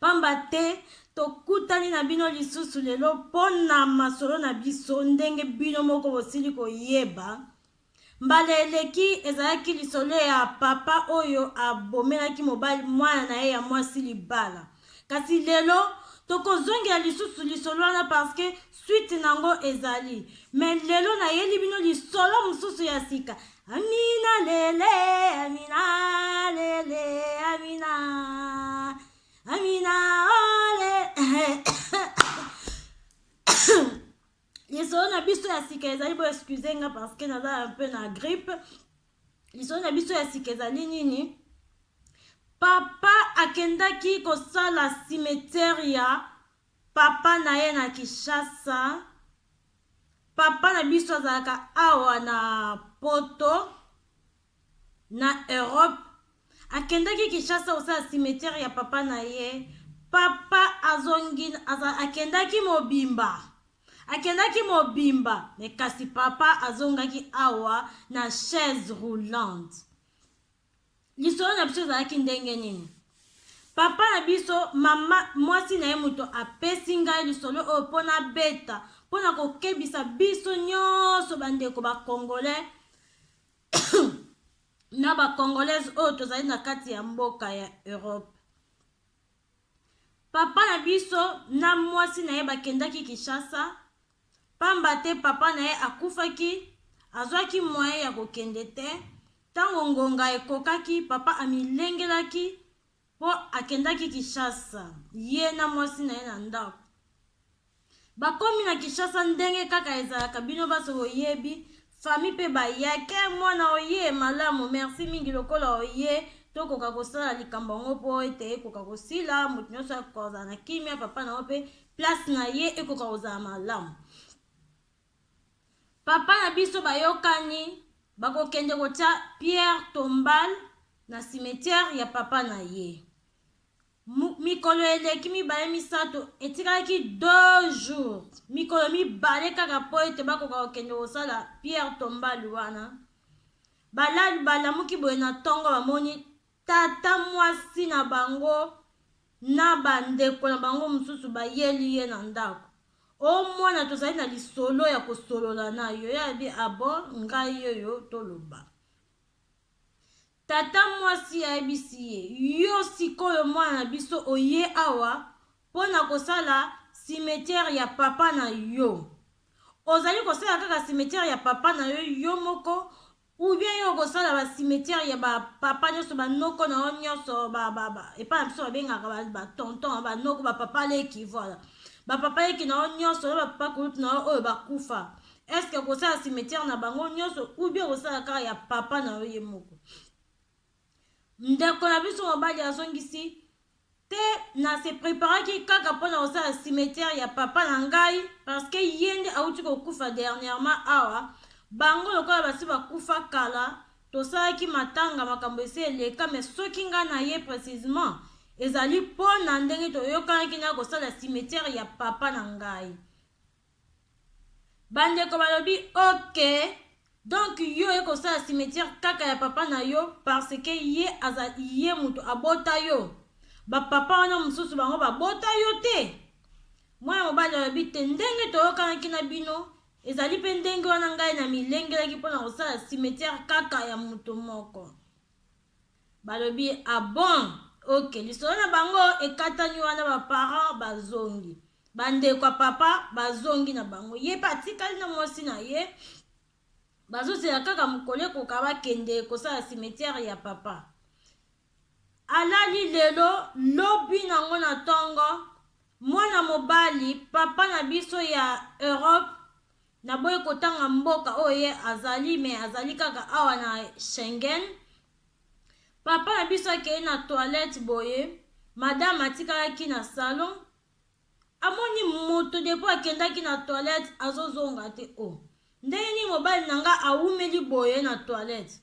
Pamba te, tokutani na bino lisusu lelo mpo na masolo na biso, ndenge bino moko bosili koyeba. Mbala eleki, ezalaki lisolo ya papa oyo abomelaki mobali, mwana na ye ya mwasi libala. Kasi lelo, tokozongela lisusu lisolo wana parce que suite na yango ezali. Mais lelo, nayeli bino lisolo mosusu ya sika. Amina lele, Amina lele, Amina, Amina ole. lisolo na biso ya sika ezali bo excuse nga parce que naza un peu na grippe. Lisolo na biso ya sika ezali nini? Papa akendaki kosala cimetière ya papa na ye na Kinshasa. Papa na biso azalaka awa na poto na Europe akendaki Kinshasa kosala cimetière ya papa na ye papa azongi akendaki mobimba akendaki mobimba me kasi papa azongaki awa na chaise roulante lisolo na biso ezalaki ndenge nini papa na biso mama mwasi na ye moto apesi ngai lisolo oyo mpo nabeta mpo na kokebisa biso nyonso bandeko bacongolais na bacongolaise oyo tozali na kati ya mboka ya europe Papa na biso na mwasi na ye bakendaki Kinshasa pamba te papa na ye akufaki, azwaki moyen ya kokende te. Tango ngonga ekokaki, papa amilengelaki po akendaki Kinshasa, ye na mwasi na ye na ndako. Bakomi na Kinshasa ndenge kaka ezalaka bino baso boyebi famille pe baya ken muana oyee malamu merci mingi lokola oyee tokoka kosala likambo yango po ete ekoka kosila moto nionso akoka kozala na kimia papa na yo pe place na ye ekoka kozala malamu papa na biso bayokani bakokende kotia pierre tombale na cimetiere ya papa na ye Mikolo eleki mibale misato, etikaki deux jours, mikolo mibale kaka mpo ete bakoka kokende kosala Pierre Tombale wana. Balali balamuki boye na ntongo, bamoni tata mwasi na bango na bandeko na bango mosusu bayeli ye na ndako. O oh, mwana, tozali na lisolo ya kosolola na yo. Ye abi abo ah ngai oyo toloba. Tata mwasi ayebisi ye, Yo sik'oyo mwana na biso oye awa po na kosala cimetière ya papa na yo? Ozali kosala kaka cimetière ya papa na yo, yo moko, ou bien yo okosala ba cimetière ya ba papa nionso, ba noko na yo nionso, ba, ba, ba, epai na biso babengaka ba, ba tonton, ba noko, ba papa leki, voilà. Ba papa leki na yo nionso, na ba papa kulutu na yo oyo bakufa. est-ce que kosala cimetière na bango nyonso ou bien kosala kaka ya papa na yo ye moko ndeko na biso mobali azongisi te na se preparaki kaka mpo na kosala cimetière ya papa na ngai parce que ye nde auti kokufa dernièrement awa bango lokola basi bakufa kala tosalaki matanga makambo esi eleka me soki ngai na ye précisement ezali mpo na ndenge toyokanaki na kosala cimetière ya papa na ngai Bandeko balobi ok donc yo oye kosala cimetière kaka ya papa na yo parce que ye aza ye mutu abota yo bapapa wana mosusu bango babota yo te mwana mobali alobi te ndenge toyokanaki na bino ezali mpe ndenge wana ngai na milengelaki mpo na kosala cimetière kaka ya moto moko Balobi ah bon ok lisolo na bango ekatani wana ba parents bazongi ba ndeko ya papa bazongi na bango ye pe atikali na mwasi na ye bazozela kaka mokolo ekoka bakende kosala cimetière ya papa alali lelo lobi nango na ntongo mwana mobali papa na biso ya europe Naboyi kotanga mboka oyo ye azali mais azali kaka awa na Schengen. Papa na biso akei na toilette boye, madame atikalaki na salon. Amoni moto depuis akendaki na toilette azozonga te. Oh, ndenge nini mobali na nga awumeli boye na toilette?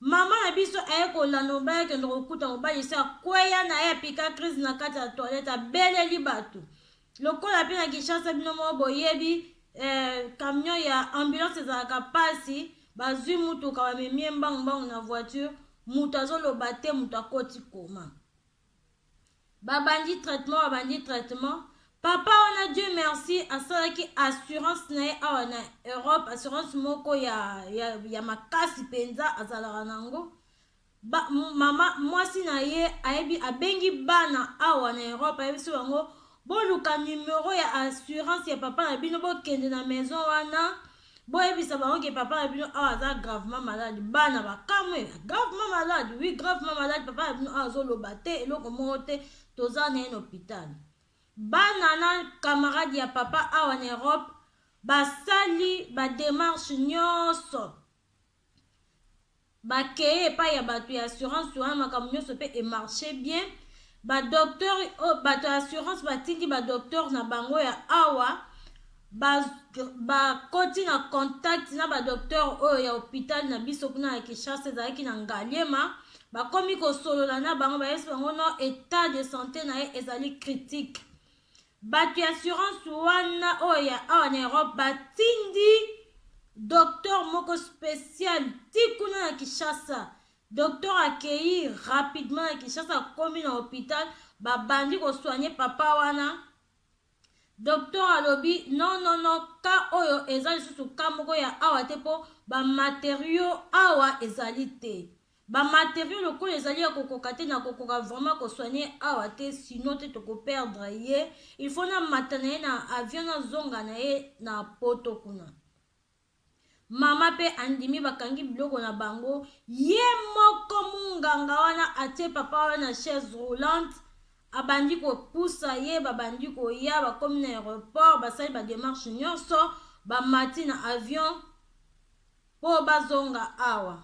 Maman na biso aye kolanda mobali akende kokuta mobali esi akweya na ye apika crise na kati ya toilette abeleli bato lokola mpe na kinshasa bino moko boyebi eh, camion ya ambulance ezalaka mpasi bazwi mutuka bamemie mbangu mbangu na voiture moto azoloba te moto akoti koma babandi traitement babandi traitement papa wana dieu merci asalaki assurance na ye awa na europe assurance moko ya, ya, ya makasi mpenza azalaka na yango ba, mama mwasi na ye ayebi abengi bana awa na europe ayebisi bango Boluka numero ya assurance ya papa na bino bokende na maison wana boyebisa bango ke papa na bino awa aza gravement malade bana bakamwe gravement malade oui gravement malade papa na bino awa azoloba te eloko moko te toza na ye na hôpital bana na camarade ya papa awa na europe basali bademarche nyonso ba keye epai ya bato ya assurance wana makambo nyonso mpe emarche bien badocteur oh, bato ya assurance batindi badocteur na bango ya awa bakoti ba na contact na badocteur oyo ya hôpital na biso kuna ya kinshasa ezalaki na ngaliema bakomi kosolola na bango bayebisi bango no etat de santé na ye ezali critique Batu ya assurance wana oyo ya awa na Europe batindi docteur moko special ti kuna na Kinshasa. Docteur akeyi rapidement na Kinshasa, akomi na hopital, babandi ko soigner papa wana. Docteur alobi non non non, ka oyo eza lisusu ka moko ya awa te po ba materiaux awa ezali te. Ba materiaux lokola ezali ya kokoka te na kokoka vraiment ko soigner ye awa te sinon te toko perdre ye il faut na mata na ye na avion na zonga na ye na poto kuna mama pe andimi bakangi biloko na bango ye moko munganga wana atie papa wana na chaise roulante abandi kopusa ye babandi koya bakomi na aéroport basali bademarche nyonso bamati na avion mpo bazonga awa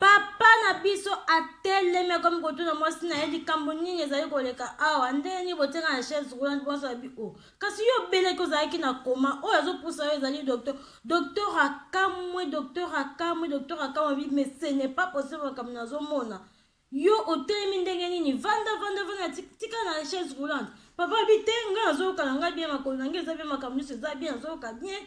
Papa na biso atelemi akomi kotuna mwasi na ye likambo nini ezali koleka awa ndenge nini botyaka na chaise roulante mwasi abi o oh, kasi yo obeleki ozalaki na koma oyo azopusa yo ezali docteur docteur akamwe docteur akamwe docteur akamwe abi mais ce n'est pas possible makambo nazomona Yo otelemi ndenge nini? Vanda vanda vanda tika na chaise roulante. Papa abi te nga nazoyoka na nga bien makolo na nga eza bien makambo nyonso eza bien nazoyoka bien.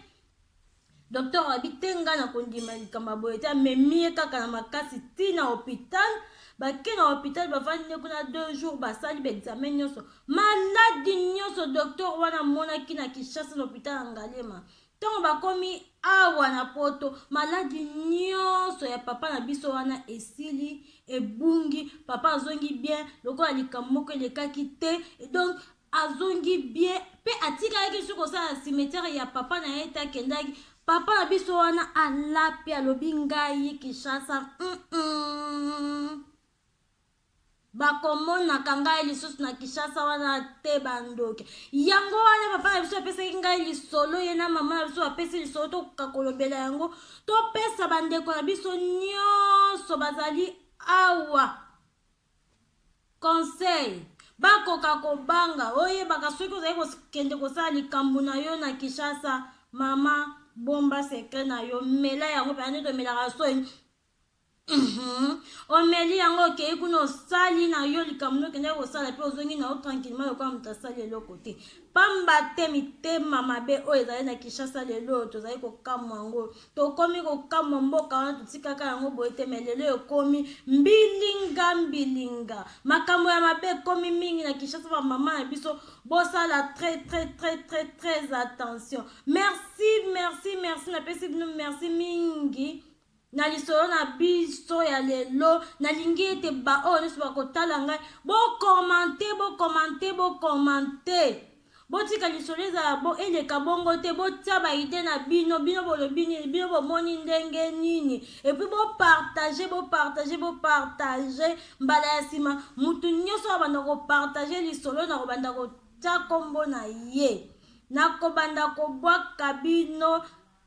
Docteur abi te nga na kondima likambo ya boye te amemi ye kaka na makasi ti na hôpital bake na hôpital bavandi nde kuna deux jours basali baexame nyonso maladi nyonso docteur wana amonaki na kinshasa na hôpital ya ngalema Tango bakomi awa na poto maladi nionso ya papa na biso wana esili ebungi papa azongi bien lokola likambo moko elekaki te donc azongi bien pe atikalaki soki kosala cimetière ya papa na ye te akendaki papa na biso wana alapi alobi ngai kinshasa mm -mm. bakomonaka ngai lisusu na kinshasa wana te bandoki yango wana papa na biso apesaki ngai lisolo ye na mama na biso bapesi lisolo tokoka kolobela yango topesa bandeko na biso nyonso bazali awa conseil bakoka kobanga oyebaka soki ozali kokende kosala likambo na yo na kinshasa mama bomba sekre na yo mela yango mpenza nde tomelaka soi Mhm. omeli yango okei kuna osali na yo likambo nde okendaki kosala mpe ozongi na yo tranquillement lokola moto asali eloko te pamba te mitema mabe oyo ezali na kinshasa lelo oyo tozali kokamwa yango tokomi kokamwa mboka wana totikaka yango boye te me lelo ekomi mbilinga mbilinga makambo ya mabe ekomi mingi na kinshasa bamama na biso bosala très très très très très attention merci merci merci napesi bino merci mingi Na lisolo na biso ya lelo, nalingi ete baoyo nyonso bakotala ngai, bokomante, bokomante, bokomante. Botika lisolo ezala bo, eleka bongo te, botia baide na bino, bino bolobi nini, bino bomoni ndenge nini, epuis bopartage, bopartage, bopartage. Mbala ya nsima, motu nyonso abanda kopartage lisolo, nakobanda kotia nkombo na ye, nakobanda kobwaka bino